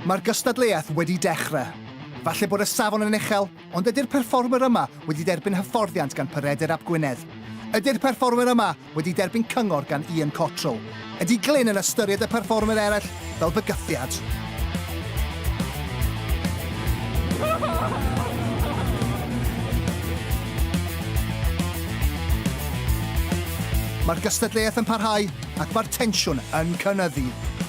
Mae'r gystadleuaeth wedi dechrau. Falle bod y safon yn uchel, ond ydy'r perfformwr yma wedi derbyn hyfforddiant gan Pyredur Ap Gwynedd? Ydy'r perfformwr yma wedi derbyn cyngor gan Ian Cottrell, ydy Glyn yn ystyried y perfformwyr eraill fel bygythiad? Mae'r gystadleuaeth yn parhau ac mae'r tensiwn yn cynyddu.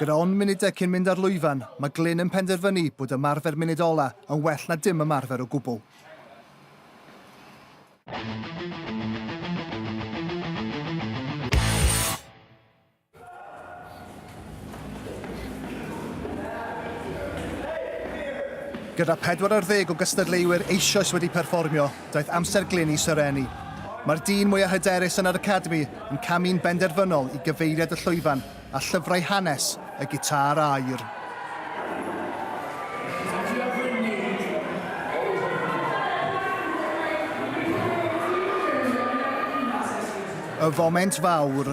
Gyda ond munudau cyn mynd ar lwyfan, mae Glyn yn penderfynu bod ymarfer munud ola yn well na dim ymarfer o gwbl. Gyda 40 o gystadleuwyr eisoes wedi perfformio, daeth amser glyn i Sir Eni. Mae'r dyn mwyaf hyderus yn yr Academi yn camu'n benderfynol i gyfeiriad y llwyfan a llyfrau hanes y gitâr aur. Y foment fawr.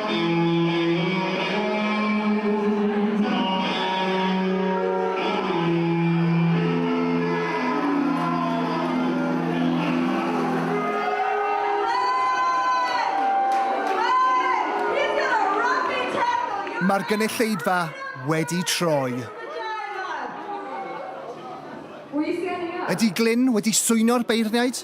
Mae'r gynulleidfa wedi troi. Ydy Glyn wedi swyno'r beirniaid?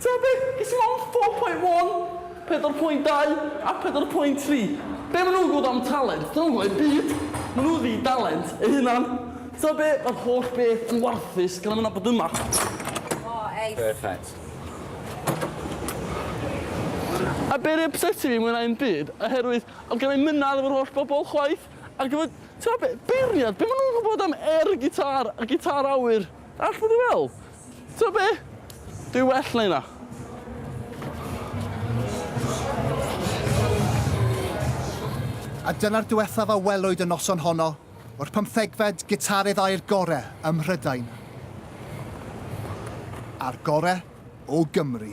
Ta beth, ges i mond four point one, pedwar pwynt dau a pedwar pwynt tri. Be' ma' nw'n gwbod am talent? 'Dyn nw'm yn gwbod 'im byd. Ma' nw ddi dalent eu hunan. Ta be', ma'r holl beth yn warthus gan am yna bod yma. O, eith. Perffaith. A be' ry ypseti fi mwy na 'im byd, oherwydd o'dd gen i'm mynadd efo'r holl bobol chwaith, ac efo, ta be', beirniad, be' ma' nw'n gwbod am air gitâr a gitâr awyr? All fod yn well. T'o' be'? Dwi well na hynna. A dyna'r diwethaf a welwyd y noson honno o'r pymthegfed gitarydd aur gore ym Mhrydain. A'r gore o Gymru.